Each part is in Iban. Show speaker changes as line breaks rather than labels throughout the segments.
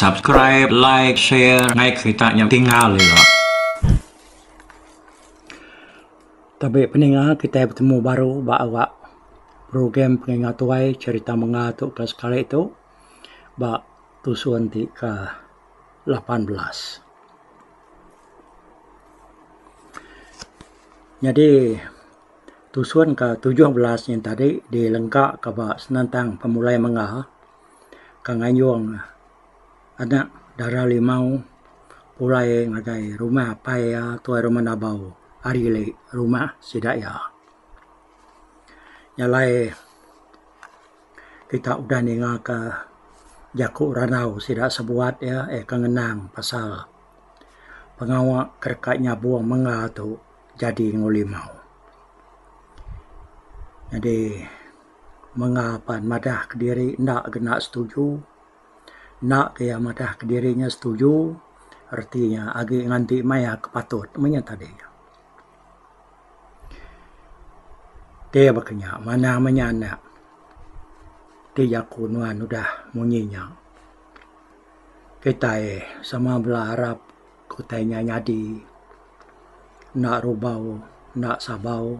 subscribe like share ngai kereta nya tinggal ila
tapi peninga kita bertemu baru ba awak program peninga tuai cerita menga tu ke sekali tu ba tusun ti ke lapan belas. Nyadi tusun ke tujuh belas yen tadi dilengka ke ba senentang pemulai mengga ke ngayung anak dara limau pulai ngagai rumah apai iya tuai rumah Nabau ari le rumah sida iya. Nyalai Kita udah ninga ka jaku randau sida sebuat iya iya ka ngenang pasal pengawa ke deka nyabong mengga tu jadi enggau limau. Jadi mengga pan madah kediri enda kena setuju enda ke iya madah kediri iya setuju reti iya agi nganti maya ke patut mung iya tadi. Ti baka nya manah meh nya anak ti jaku nuan udah munyi nya. Kitai sama bala arap ke utai nya nyadi enda rubau enda sabau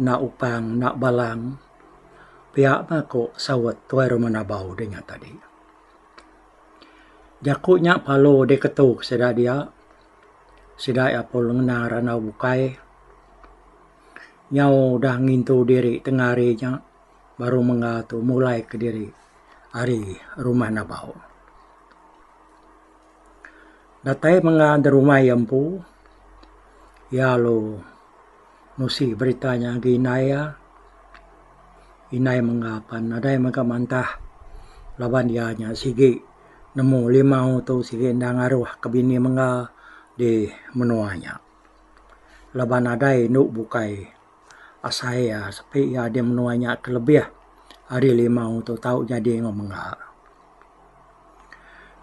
enda upang enda balang pia meh ku saut Tuai Rumah Nabau deh nya tadi. Jaku nya parlu diketu sida dia. sida iya pun ngena randau bukai nyau udah ngintu diri tengah hari nya baru mengga tu mulai kediri ari rumah Nabau. Datai mengga da rumah iya empu iya lalu nusi berita nya agi indai iya. Indai mengga pan nadai mega mantah laban iya nya sigi nemu limau tu sigi enda ngaruh ke bini mengga di menua nya. Laban nadai indu bukai asai iya sepi iya di menua nya ke lebih ari limau tu tau nyadi enggau mengga.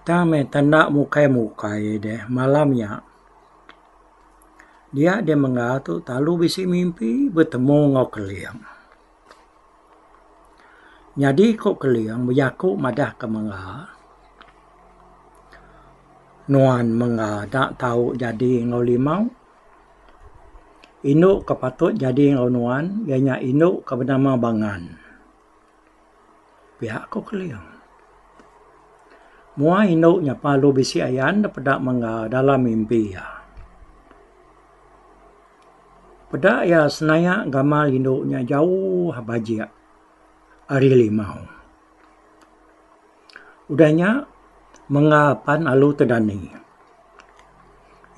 Tang meh tanda mukai mukai deh malam nya. Dia deh mega tu talu bisi mimpi betemu enggau Keling. Nyadi ku Keling bejaku madah ke mega nuan mega da tau jadi enggau limau. Indu ke patut jadi enggau nuan iya nya indu ke benama Bangan. Pia ko Keling. Mua indu nya palu bisi ayan da peda mengga dalam mimpi iya. Peda iya senayak gamal indu nya jauh bajik ari limau. Udah nya, mengga pan alu te dani.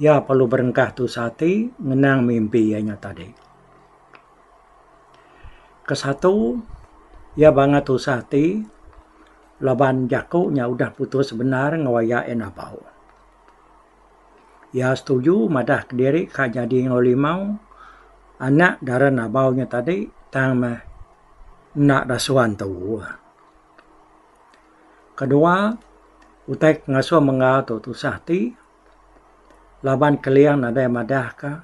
Iya perlu berengkah tusah ati ngenang mimpi iya nya tadi. Ke satu, iya bangga tusah ati laban jaku nya udah putus bendar ngeroya iya napau. Iya setuju madah kediri ka nyadi enggau limau anak dara Nabau nya tadi tang meh enda dasuan tuuh. Kedua, utai ke ngasuh mengga tu tusah ati laban Keling nadai madahka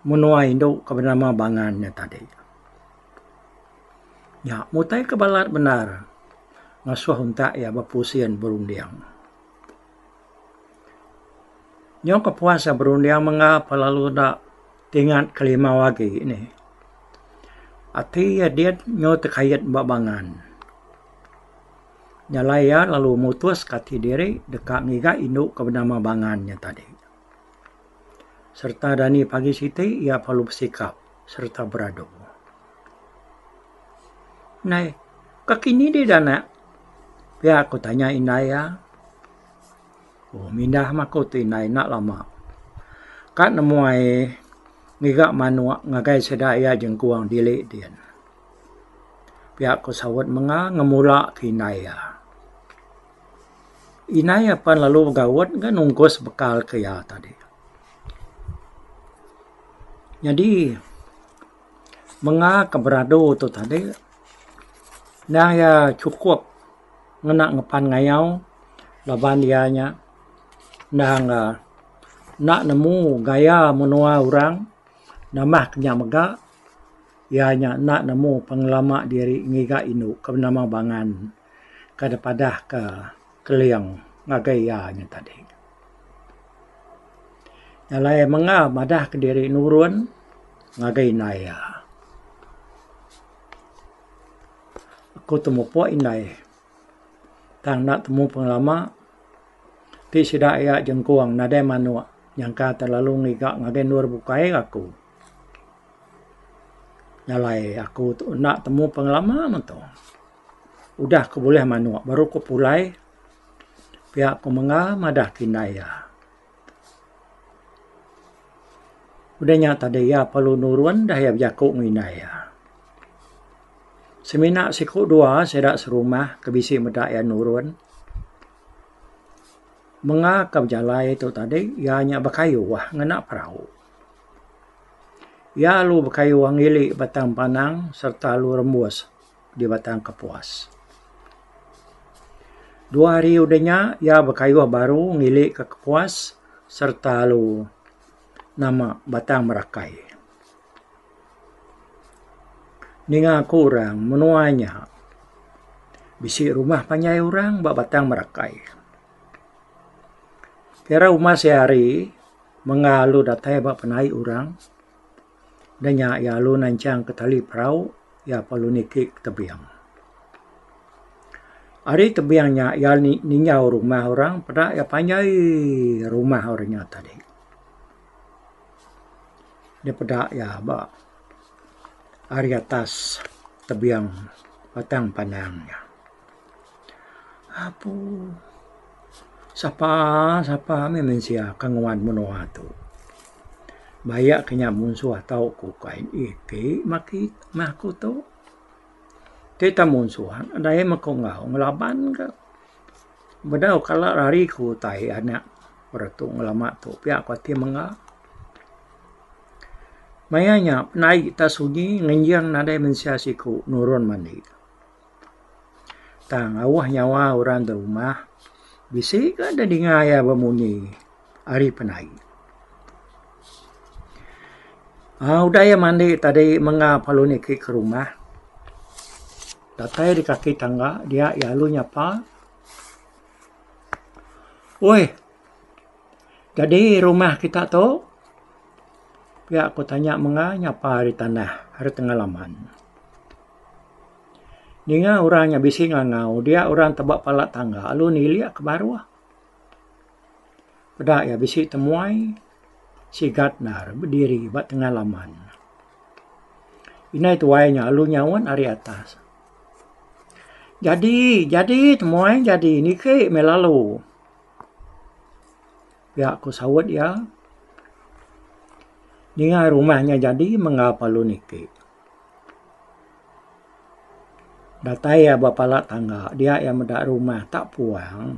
menua indu ke benama Bangan nya tadi. Nya utai ke balat bendar ngasuh untak iya bepusin berunding. Nyau ke puas iya berunding mega pe lalu da tingat kelimau agi nih. Ati iya diyet nyau tekayet ba bangan. Nyalai iya lalu mutus ka ati diri deka ngiga indu ke benama Bangan nya tadi. Sereta dani pagi siti iya perlu besikap sereta beradu. Nai ka kini dih da anak pia ku tanya indai iya. Oh mindah mah ku ti indai enda lama ka nemuai ngiga manok ngagai sida iya jengkung dili din. Pia ku saut mega ngemula ke indai iya. Inai apan lalu begaut ga nungkus bekal ke iya tadi. Nyadi menga ke beradu tu tadi nang iya chukup ngena ngepan ngayau laban iya nya nang ka enda nemu gaya menua orang nambah ke nya mega iya nya enda nemu pengelama diri ngiga indu ke nama bangan. ke dipadahka Keling ngagai iya nya tadi. Nya alai menga madahka diri nurun ngagai indai iya. Aku tu mupuk indai tang enda temu pengelama ti sida iya jengkung nadai manuk nyangka terlalu ngiga ngagai endur bukai aku. Nya alai aku tu enda temu pengelama meh tu. Udah ku bulih manuk baru ku pulai pia ku menga madah ke indai iya. Udah nya tadi iya perlu nurun dah iya bejaku ngan indai iya. Semina siku dua sida serumah ke bisi meda iya nurun menga ke bejalai tu tadi iya nya bekayuh ngena perau. Iya lalu bekayuh ngili batang panang sereta lalu rembus. di Batang Kapuas. Dua hari udah nya iya bekayuh baru ngili ke Kapuas sereta lalu nama Batang Merakai. Ninga ku orang menua nya bisi rumah panjai orang ba Batang Merakai. Kira rumah sehari mengga lalu datai ba penai orang Da nya iya alu nanchangka tali perau iya pa alu niki ke tebing. Ari tebing nya iya ninjau rumah orang peda iya panjai rumah orang nya tadi. Dia peda iya ba ari atas tebing Batang Panang nya. Apu sapa sapa meh mensia ke nguan menua tu baya ke nya munsuh tau ku kai ih ti meh ki meh aku tu ti ta munsuh dai meh ku enggau ngelaban ke bedau kala hari ku utai anak retu ngelama tu pia ku ati mengga. Maya nya penai ta sunyi ngenjing nadai mensia siku nurun mani. Tang awa nyawa orang da rumah bisi ka da dinga iya bemunyi ari penai. aaa udah iya mandi tadi menga pelu niki ke rumah datai di kaki tangga dia iya lalu nyapa oi jadi rumah kita tu pia ku tanya menga nyapa ari tanah ari tengah laman. Ninga orang nya bisi ngangau dia orang teba pala tangga lalu nilik ka baruh. Peda iya bisi temuai sigat nda bediri ba tengah laman. Inai tuai nya lalu nyaut ari atas Jadi jadi temuai jadi niki meh lalu. Pia ku saut iya ninga rumah nya jadi mengap lalu niki. Datai iya ba pala tangga dia iya meda rumah tak puang.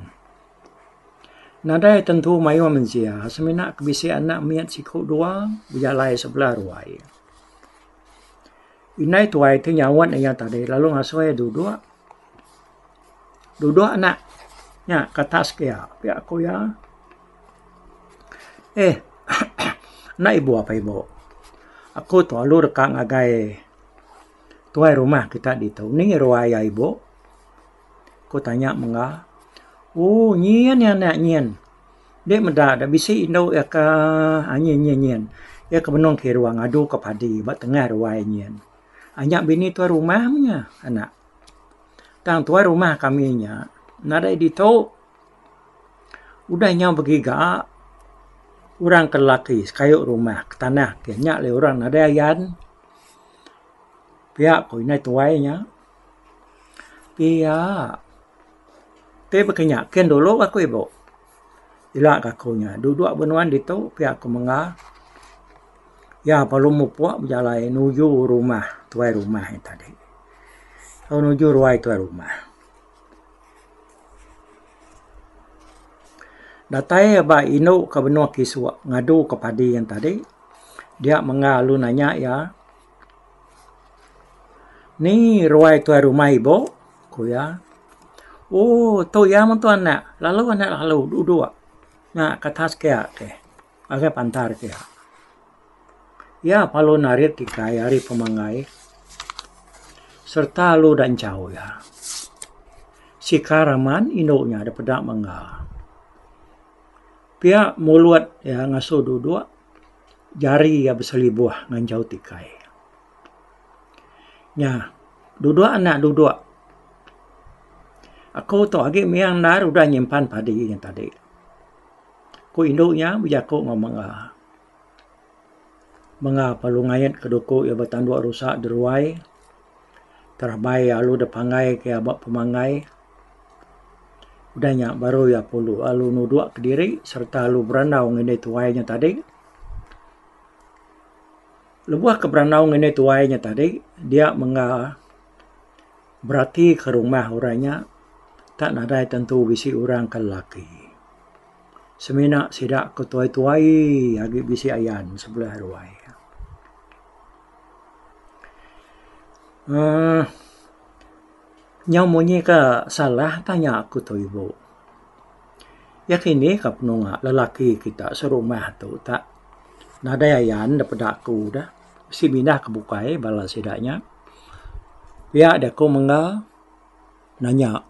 Nadai tentu mayuh mensia semina ke bisi anak mit siku dua bejalai sebelah ruai. Indai tuai ti nyauan iya tadi lalu ngasuh iya duduk. Duduk anak nya ke atas kia pia ku iya. Eh enda ibu apai ibu aku tu lalu deka ngagai tuai rumah kita ditu nih ngi ruai iya ibu ku tanya mengga. Ooh nyin iya anak nyin ende meda ida bisi indu iya ka aaa nyin nyin nyin iya ke benung kiru ngadu ke padi ba tengah ruai nyin. Nya bini tuai rumah meh iya anak. Tang tuai rumah kami nya nadai ditu udah nyau begiga orang ke lelaki sekayu rumah ke tanah ke nya le orang nadai ayan pia ko indai tuai nya pia ti baka nya ken dulu aku ibu. Ila ka aku nya. Duduk ba nuan ditu pia aku menga. Iya baru mupuk bejalai nuju rumah tuai rumah iya tadi. Tau nuju ruai tuai rumah. Datai iya ba indu ka benung kisu ngadu ka padi iya tadi. Dia menga lalu nanya iya. Ni ruai tuai rumah ibu? ku iya. Oh, tu iya meh tu anak. Lalu anak lalu dua dua. Nya ka atas ke iya ke. Ngagai pantar ke iya. Iya lalu narit ikai ari pemanggai sereta lalu udah enchau iya. Sika raman indu iya da peda mengga. Pia mulut iya ngasuh dua dua. Jari iya beselibuh ngan jauh tikai. Nya duduk anak duduk. Aku tu agi mih endar udah nyimpan padi nya tadi. Ku indu nya bejaku ngan mega. Mega pa lu ngait ke duku iya betandu rusa deruai. Terabai iya alu deh pangai ke iya ba pemanggai. Udah nya baru iya pulu alu nudok kediri sereta alu berandau ngan indik tuai nya tadi. Lebuh ke berandau ngan indik tuai nya tadi dia mengga beratika rumah orang nya tak nadai tentu bisi orang ke lelaki. Semina sida ke tuai-tuai agi bisi ayan sebelah ruai. uhh nyau munyi ka salah tanya aku tu ibu. Iya ke indi ka penunga lelaki kita serumah tu tak nadai ayan da peda aku da bisi pindah ke bukai bala sida nya. Pia da ku mengga nanya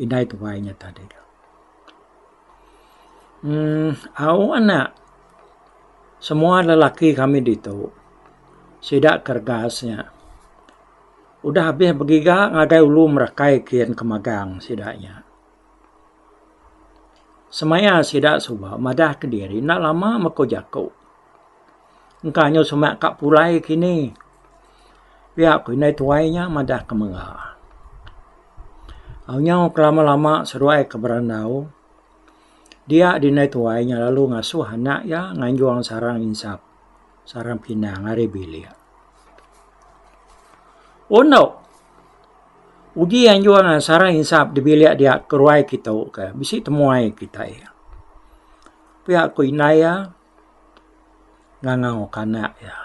indai tuai nya tadi. uhh au anak semua lelaki kami ditu sida kerega nya udah abih begiga ngagai ulu merakai kian ke magang sida nya semaya sida suba madah kediri enda lama meko jaku. Engka anyu semak ka pulai kini. Pia ku indai tuai nya madah ke mega. Anyu ke lama lama seduai ke berandau dia di indai tuai nya lalu ngasuh anak iya nganjung sarang insap sarang pinang ari bilik. Un tu uji anjung sarang insap di bilik dia ke ruai kitu ke bisi temuai kitai. Pia ku indai iya. ngangau kanak iya.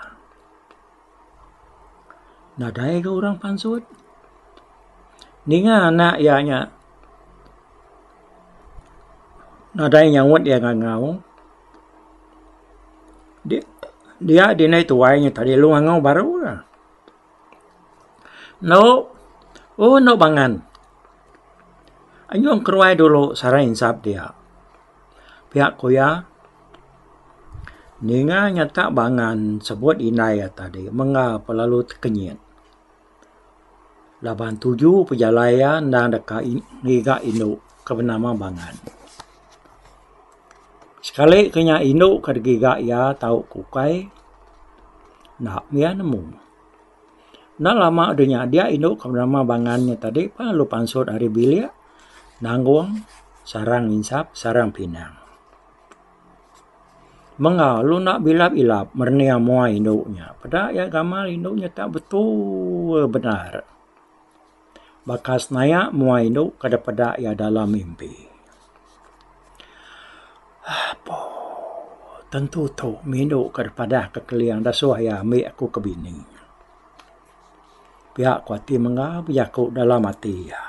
Nadai ga orang pansut ninga anak iya nya nadai nyaut iya ngangau di dia dinai tuai nya tadi lu ngangau baru la. Endo un endo bangan anyung keruai dulu sarai insat dia. Pia ku iya, ninga nyata bangan sebut indai iya tadi mengga pe lalu tekenyit laban tuju pejalai iya enda deka ngiga indu ke benama bangan. Sekali ke nya indu ke digiga iya tau ke ukai enda pun iya nemu. Enda lama deh nyadia indu ke nama bangan nya tadi pa lu pansut ari bilik nanggung sarang insap sarang pinang. Meng au lu enda bilap ilap merening amoy indu nya peda iya gamal indu nya tak betul bendar. Baka senaya mua indu kada peda iya dalam mimpi. Apo tentu tu mindu ka dipadah ka keling dah suah iya ambi aku ke bini. Pia ku ati mengga bejaku dalam ati iya.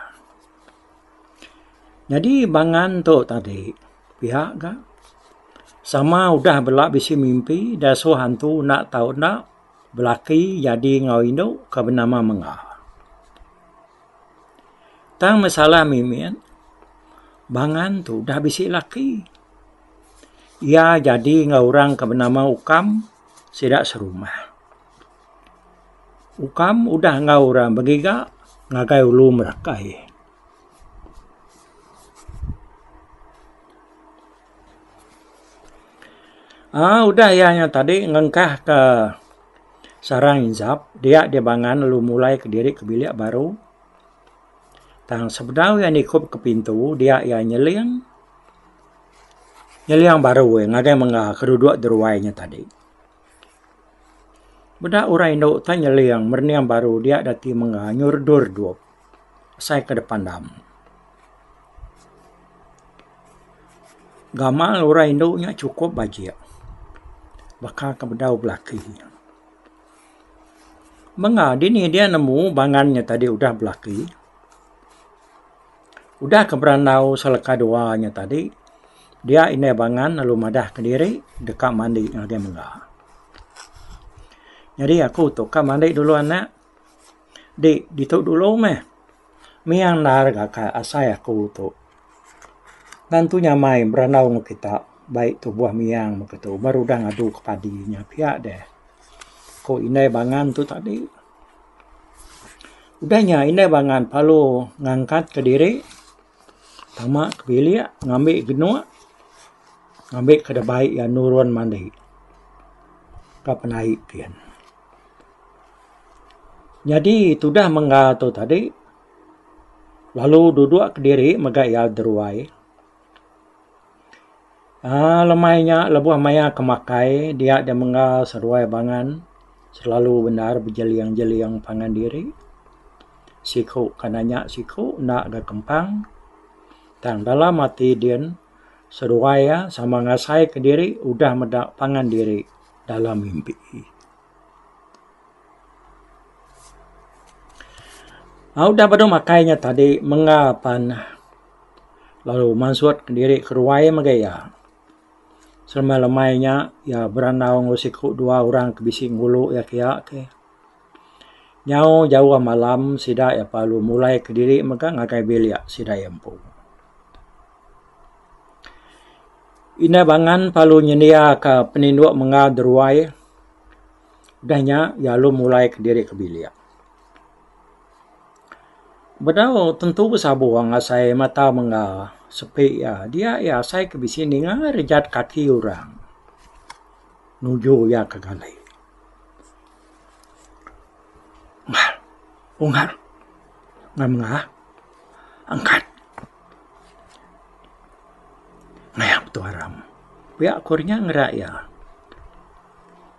Nyadi bangan tu tadi pia ga sama udah bela bisi mimpi dah suah antu enda tau enda. Belaki nyadi enggau indu ke benama Mengga. Tang masalah mimit, Bangan tu udah bisi laki. Iya nyadi enggau orang ke benama Ukam sida serumah. Ukam udah enggau orang begiga ngagai ulu merakai. uhh udah iya nya tadi ngengkah ka sarang inzap dia dibangan lalu mulai kediri ke bilik baru tang sebedau iya nikup ka pintu dia iya nyeling nyeling baru iya ngagai mengga keduduk deruai nya tadi. Meda orang indu tai nyeling merening baru dia da ti mengga nyu redup redup asai ke depan dam. Gamal orang indu nya chukup bajik baka ke bedau belaki. Mengga dini dia nemu bangan nya tadi udah belaki. Udah ke berandau seleka dua nya tadi, dia indai bangan lalu madah ke diri deka mandi ngagai mega. Nyadi aku tu ka mandi dulu anak. Di ditu dulu meh. Mih andal ga ka asai aku tu. Ngan tu nyamai berandau ngan kita bai tubuh miang meh ke tu baru udah ngadu ke padi nya pia deh. Ku indai bangan tu tadi. Udah nya indai bangan palu ngangkat ke diri tama ke bilik ngambi genuk ngambi ke dabai iya nurun mandi ka penai kiyen. Nyadi tudah mengga tu tadi lalu duduk ke diri mega iya deruai. uhh lemai nya lebuh maya ke makai dia deh mengga seduai bangan selalu bendar bejeling jeling pangan diri siku ke nanya siku enda ga kempang tang dalam ati din seduai iya sama ngasai ke diri udah meda pangan diri dalam mimpi uhh udah baru makai nya tadi mengga pan. lalu mansut diri ke ruai mega iya. Seremai lemai nya iya berandau enggau siku dua orang ke bisi ngulu iya ke iya ke. Nyau jauh malam sida iya pa lalu mulai ke diri mega ngagai bilik sida iya empu. Indah Bangan pa lalu nyendia ka penindu mengau de ruai udah nya iya lalu mulai ke diri ke bilik. Bedau tentu besabung asai mata mengga sepi iya. Dia iya asai ke bisi ninga rejat kaki orang nuju iya ke galai. Unggal unggal nang mengah angkat mayap tu aram. Pia ku nya ngera iya.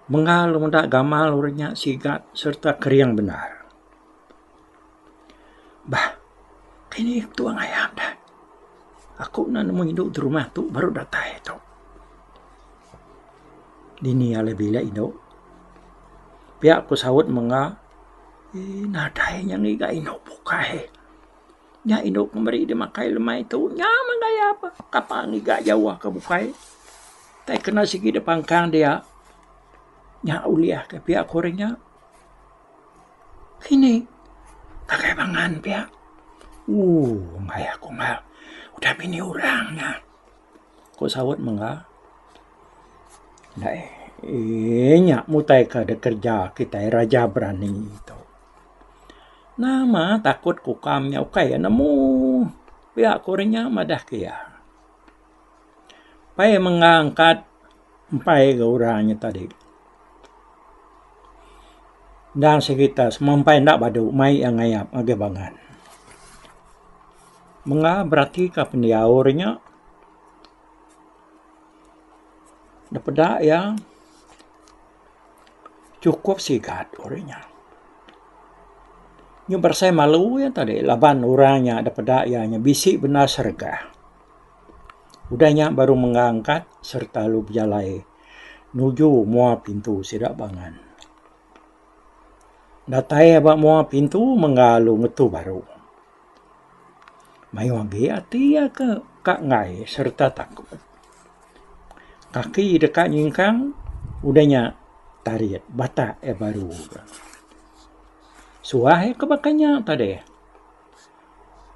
Mengal unda gamal orang nya siga sereta kering bendar. Bah, kayuh nih aku tuuh ngayak ne. Aku enda nemu indu ti rumah tu baru datai tu. Dini alai bilik indu. Pia ku saut mengga nadai inya ngiga indu bukai. Nya indu ke meri deh makai lemai tu nya mah gaya peh tapa ngiga jauh ke bukai tai kena sigi deh pangkang dia nya ulih ke pia ku re nya kini ngagai pangan pia ooh maya aku maya udah bini orang nya ku saut mengga nya mutai ke de kerja kitai raja berani tu. Nama takut ku ukam nya ukai iya nemu pia ku orang nya madah ke iya. Pai mengang kad empai ga orang nya tadi. Endang serita semua empai enda badu mai iya ngayap ngagai bangan. Mega berati ka pendiau orang nya da peda iya. chukup sigat uri nya. Nyuh beresai malu iya tadi laban orang nya deh peda iya nya bisi bendar seregah. Udah nya baru mengga angkat sereta lalu bejalai nuju mua pintu sida bangan. Datai ba mua pintu mengga lalu ngetu baru. Mayuh agi ati iya ke ka enggai sereta takut. Kaki deka nyingkang udah nya tarit batak iya baru. Suah iya ke baka nya tadi.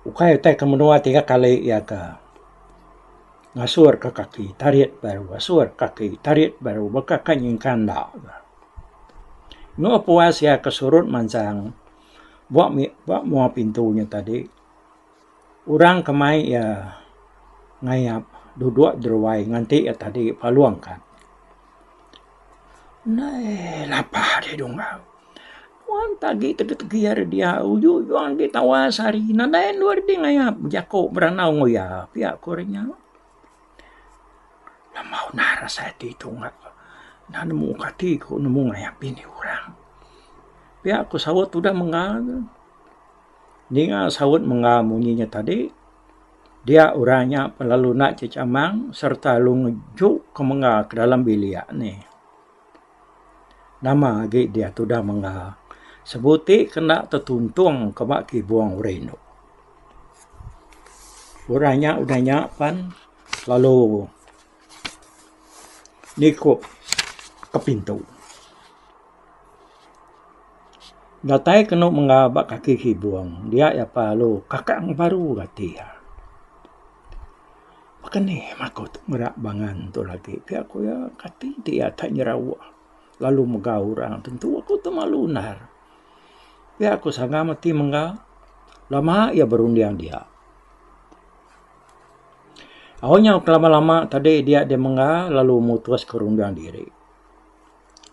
Ukai utai ke menua tiga kali iya ke ngasur ka kaki tarit baru ngasur ka kaki tarit baru baka ka nyingkang enda. Meh puas iya ke surut mansang. Ba ba mua pintu nya tadi orang ke mai iya ngayap dudok deruai nganti iya tadi palung ka. Neh lapah di dungau. Puan ke agi tegi tegi ari dia uju uju agi tawas ari nadai anu ari ti ngayap jako beranau enggau iya pia ko re nya. Nama udah rasa ati ku ungak ku udah nemu ka ati ku nemu ngayak bini orang. Pia ku saut udah mengga ne ninga saut mengga munyi inya tadi dia orang nya lalu nda cecamang sereta lalu ngejuk ke mengga ke dalam bilik ne. Nama agi diah tudah mengga sebu ti kena tetuntung ke ba kibung orang indu. Orang nya udah nya pan lalu nikup ke pintu. Datai kenu mengga ba kaki kibung dia iya pa lalu kakang baru gati iya. Baka ni aku ti mera bangan tu agi pia ku iya kati ti iya ka nyerauh lalu mega orang tentu aku tu malu undar. Pia ku sanga mati mengga lama iya berunding dia. Au nyau ke lama lama tadi dia deh mengga lalu mutus ke runding diri.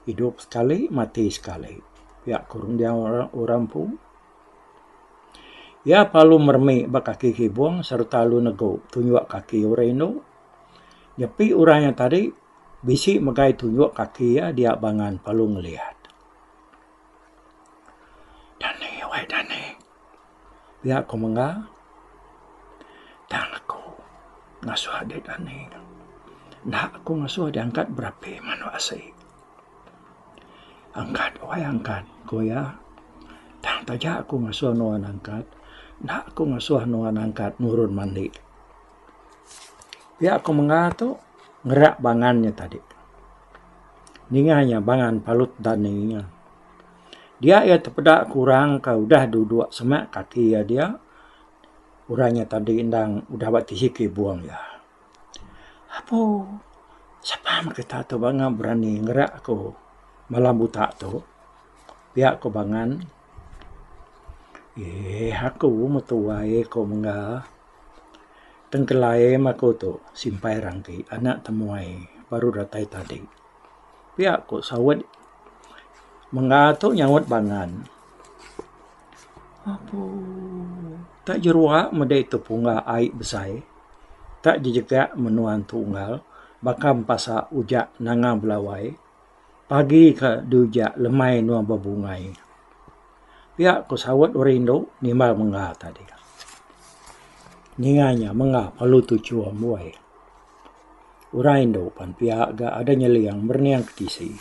Idup sekali mati sekali pia ku runding orang empu. Iya parlu meremi ba kaki kibung sereta alu negu tunjuk kaki orang indu. Nyepi orang iya tadi bisi mega tunjuk kaki iya dia bangan parlu ngeliat. Dani wai dani pia ku mengga tang aku ngasuh dek dani enda aku ngasuh diangkat berapi menu asi. Angkat wai angkat ku iya. Tang taja ku ngasuh nuan angkat enda ku ngasuh nuan angkat nurun mandi. Pia ku mengah tu ngera bangan nya tadi. Ninga iya bangan palut dani iya. Dia iya tepeda ku orang ka udah duduk semak kaki iya dia orang nya tadi endang udah ba tihi kibung iya. Apu, sapa meh kita tu bangau berani ngereak aku malam buta tu. Pia ku bangan. Eeh aku meh tuai ku mengga. Tengkelai meh aku tu simpai rangki anak temuai baru datai tadi. Pia ku saut mengga tu nyaut bangan. Apu. Tak jerua meda itu punga ai besai. Tak jejegak menua tu unggal baka empasa uja nanga belawai pagi ka di uja lemai enua bebungai. Pia ku saut orang indu nimbal mengga tadi. Ninga inya mengga perlu tu chua mbuai. Orang indu pan pia ga ada nyeling berening ke tisi.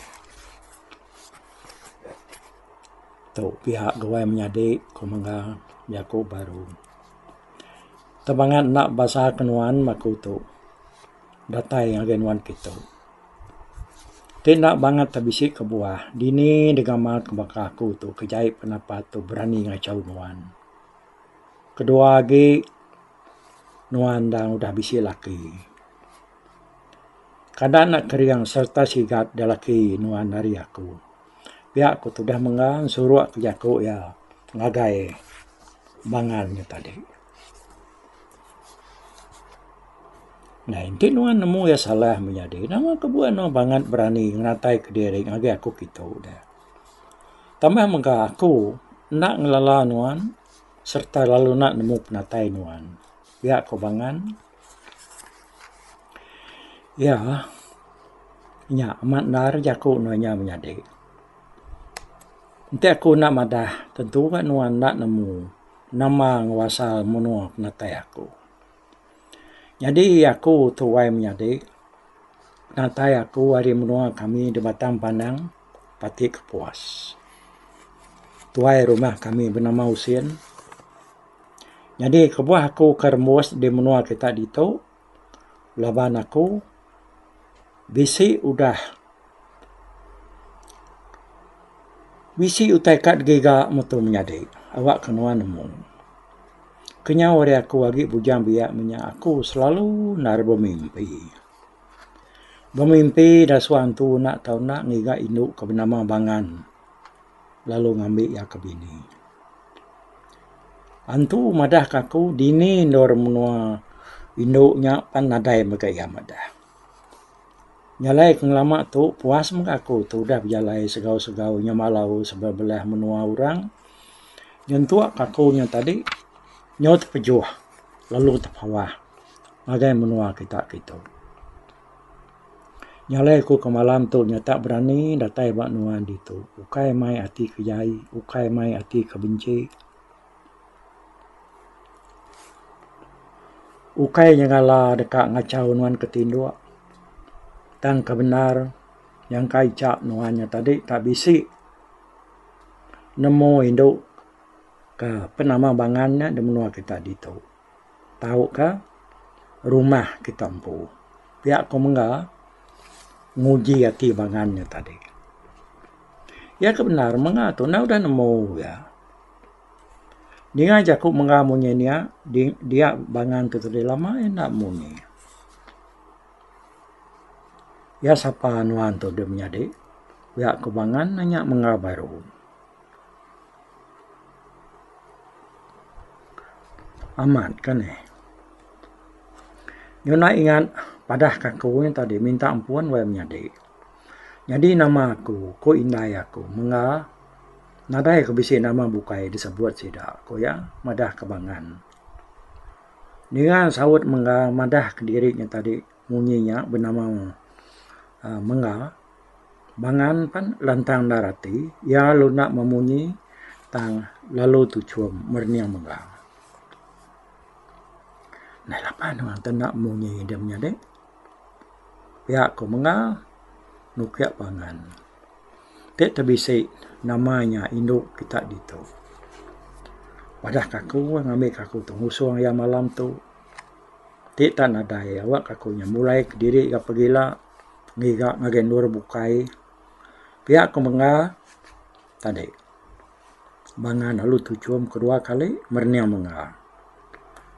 tu pia duai menyadi ku mengga jaku baru. Tebangan enda basa ke nuan maku tu datai ngagai nuan ke tu. Ti enda bangat ti bisi kebuah dini digama ke baka aku tu ke jai pendapat tu berani ngachau nuan. Kedua agi nuan enda udah bisi laki. Kada anak keriang serta sigat da laki nuan ari aku. Pia ku tudah menggang suruk ke jaku iya ngagai bangan nya tadi. Nah enti nuan nemu iya salah meh nyadi nama ke buah nuan bangat berani ngeratai ke diri ngagai aku kitu deh. Tambah mega aku enda ngelala nuan serta lalu enda nemu penatai nuan. Pia ku bangan. Iya. Nya amat endar jaku nuan inya menyadi. Enti aku enda madah tentu ka nuan enda nemu nama enggau asal menua penatai aku. Nyadi aku tuai menyadi penatai aku ari menua kami da Batang Pandang, Pati Kepuas. Tuai rumah kami benama Usin. Nyadi kebuah aku ke rembus di menua kita ditu laban aku bisi udah bisi utai ka giga metu menyadi awak ke nuan nemu. Kenyau ari aku agi bujang biak menya aku selalu nari bemimpi. Bemimpi da suwa antu enda tau enda ngiga indu ke benama Bangan lalu ngambi iya ke bini. Antu madah ka aku dini endur menua indu nya pan nadai mega iya madah. Jalai ke ngelama tu puas mega aku tu udah bejalai segau segau inya malau sebedau belah menua orang. Nyentuk ka aku nya tadi nyau tepejuh lalu tepawah ngagai menua kita kitu. Nyalai ku ke malam tu nya tak berani datai ba nuan ditu. Ukai mai ati ke jai, ukai mai ati ke benci. Ukai nyengala deka ngachau nuan ke tinduk. Tang ke bendar nyangka icha nuan nya tadi tak bisi nemu indu ke penama bangan nya di menua kita ditu. tauka rumah kita empu. Pia ko mengga nguji ati bangan nya tadi. Iya ke bendar mengga tu enda udah nemu iya. Ninga jaku mengga munyi nia dia bangan tu tadi lama iya enda munyi. Iya sapa nuan tu dep nyadi pia ko bangan nya mengga baru. Amat ka ni. Nyuna ingat padah ka aku nya tadi minta ampun wayah menyadi. Nyadi nama aku ku indai aku mengga nadai ku bisi nama bukai disebut sida ku iya madah ka bangan. Ninga saut mengga madah ka diri nya tadi. Munyi nya benama mengga bangan pan lantang endar ati iya lalu enda memunyi tang lalu tuchum merening mengga. Nai lapan orang tu enda munyi dia menyadi pia ko mengga nukik bangan ti te bisi nama nya indu kita ditu. Madah kaku ngambi kaku tu ngusung iya malam tu. Ti tak nadai awak aku nya mulai kediri ga pegila ngiga ngagai endur bukai pia ku mengga tadi bangan alu tuchum kedua kali merening mengga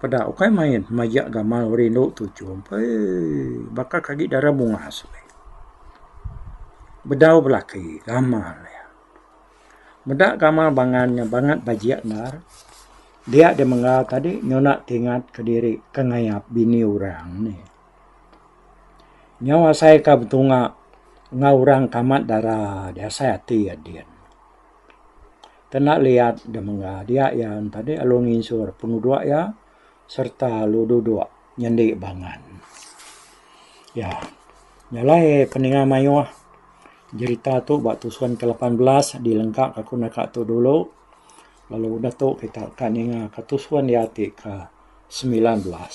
peda ukai main maja gamal rindu tuchum eii baka ke agi dara bungas meh bedau belaki gamal iya. Meda gamal bangan nya bangat bajik endar, dia deh menggal tadi nyona ti ingat kediri ke ngayap bini orang nih. Nyau asai ka betunga enggau orang ke amat dara deh asai ati iya din. Kena liat deh menggal dia iya tadi lalu nginsur penuduk iya. sereta alu duduk nyendi bangan. Ya, nya alai peninga mayuh jerita tu ba tusun ke lapan belas di lengka ka ku naka tu dulu lalu udah tu kita ka ninga ka tusun nya ti ke semilan belas.